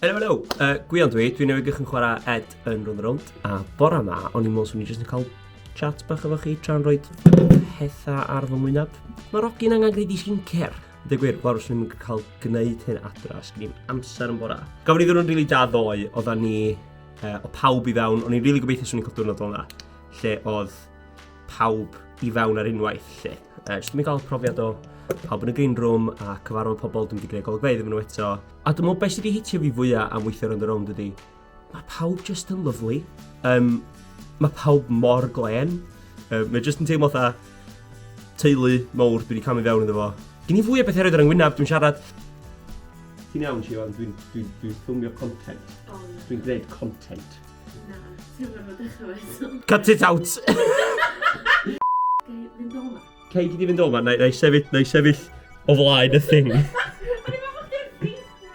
Helo, helo. Uh, Gwion dwi, dwi'n newid gych yn chwarae Ed yn rhwng rownd. A bora ma, o'n i'n meddwl swn i'n jyst yn cael chat bach efo chi tra'n rhoi pethau ar fy mwynhad. Mae Rogi'n angen gwneud i sgincer. Dwi'n gwir, fawr os ni'n cael gwneud hyn adra, sgyn ni'n amser yn bora. Gafon ni ddyn nhw'n rili da ddoe, oedda ni uh, o pawb i fewn, o'n i'n rili really gobeithio swn i'n cael diwrnod o'n dda, lle oedd pawb i fewn ar unwaith lle. Uh, jyst mi gael profiad o pawb yn y green room a cyfarfod pobl dwi'n wedi gwneud golygfeydd iddyn nhw eto. A dwi'n meddwl beth sydd wedi hitio fi fwyaf am weithio rownd y rownd ydy, mae pawb jyst yn lyflu. Um, mae pawb mor glen. Um, mae jyst yn teimlo fatha teulu mowr dwi wedi camu fewn iddo fo. Gyn i fwy o beth eraill ar yngwynaf, dwi'n siarad Ti'n iawn, Siwan, dwi'n dwi, dwi ffilmio content. Dwi'n gwneud content. Na, ti'n rhaid fod eich eto. Cut it out! Gei fynd o'ma. Cei di fynd o'ma, na i sefyll, na i sefyll o flaen y thing.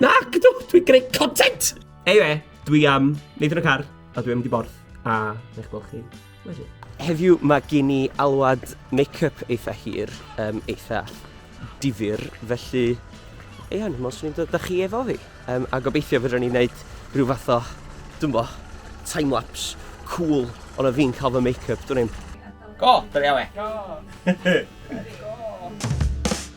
Na, gydw, dwi'n greu content! Ei we, dwi am wneud yn y car, a dwi'n mynd i borth, a ne'ch gweld chi. Heddiw mae gen i alwad make-up eitha hir, um, eitha difyr, felly... Ia, dwi'n meddwl swn i'n dod â chi efo fi. Um, a gobeithio fydden ni'n gwneud rhyw fath o, dwi'n bo, time-lapse, cool, ond o fi'n cael fy make-up, dwi'n i'n... Go! Dyna iawn e. Go! Go!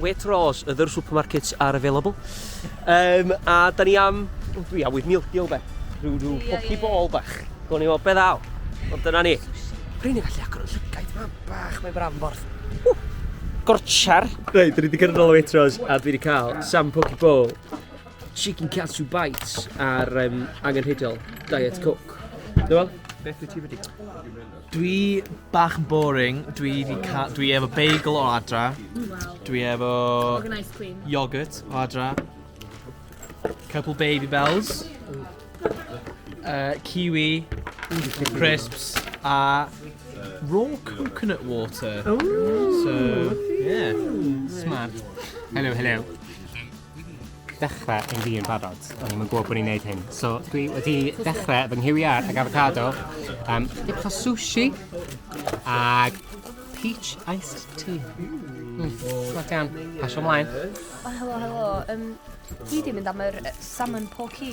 Waitrose, are there supermarkets are available? Um, a da ni am, oh, dwi am with meal deal be, rhyw, rhyw poki bol bach. Gwni o beth aw, ond dyna ni. Rwy'n ei gallu agor yn llygaid, mae'n bach, mae'n bramborth. Uh, gorchar. Reit, dwi wedi gyrraedd ôl o Waitrose a dwi wedi cael Sam Poki Bowl, Chicken Katsu Bites a'r um, angenrheidiol Diet Coke. Dwi'n fel? Beth wyt ti wedi? Dwi bach yn boring, dwi 'di ca- dwi efo bagel o adra, dwi efo... Ag yn ice cream. ...yoghurt o adra, couple Babybels, yy kiwi, crisps a raw coconut water. Ww! So, ie. Smart. Helo helo. dechrau yn fi yn barod. O'n i'n gwybod bod ni'n neud hyn. So dwi wedi dechrau fy nghywiar ag avocado, um, dip o sushi, ag peach iced tea. Mm, Smac iawn. Pasio ymlaen. O, helo, helo. Um, dwi wedi mynd am yr salmon porky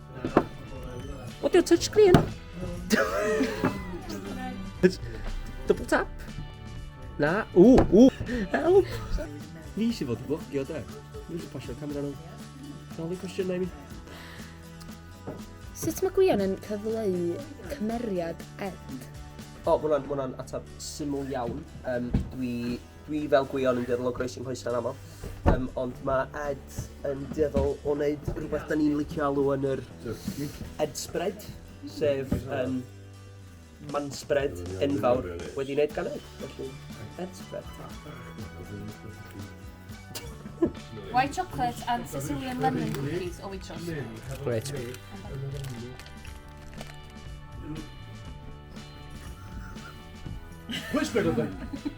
What your touch screen? Double tap? Na, ww, ww, help! Ni sy'n fod yn blogio, da. Ni sy'n pasio'r camera nhw. Dal i cwestiynau mi. Sut mae Gwion yn cyfleu cymeriad Ed? O, oh, mwna'n, mwna'n atab syml iawn. Um, dwi Dwi fel gwion yn dueddol o groesi nghoesau'n aml, yym ond ma' Ed yn dueddol o neud rwbeth 'dan ni'n licio alw yn yr Ed spread, sef yym man spread enfawr wedi neud gan Ed, felly Ed spread. White chocolate and Sicilian lemon cookies o Waitrose. Grêt. Pwy sbio arno fi?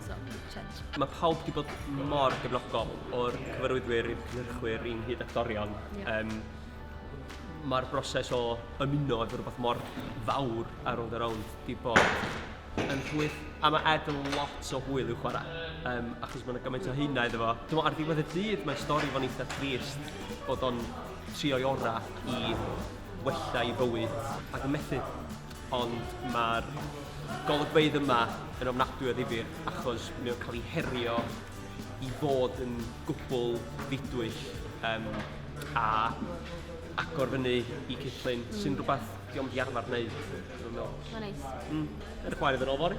So, keep change. Mae pawb wedi bod mor gefnogol o'r cyfarwyddwyr i'r cynhyrchwyr i'n hyd actorion. Yeah. Um, Mae'r broses o ymuno efo rhywbeth mor fawr ar ôl yr awn wedi bod yn rhwydd. A mae Ed yn lot o hwyl i'w chwarae, um, achos mae yna gymaint o hynna iddo fo. Dwi'n ar ddiwedd y dydd, mae'n stori fo'n eitha trist bod o'n trio'i orau i wella i bywyd ac yn methu. Ond mae'r golygfeydd yma yn ofnadwy o ddifyr achos mae o'n cael ei herio i fod yn gwbl ddidwyll um, a agor fyny i cyllun sy'n rhywbeth di ond i arfer wneud. Mae'n neis. Mm. Edrych mlaen iddyn nhw fory.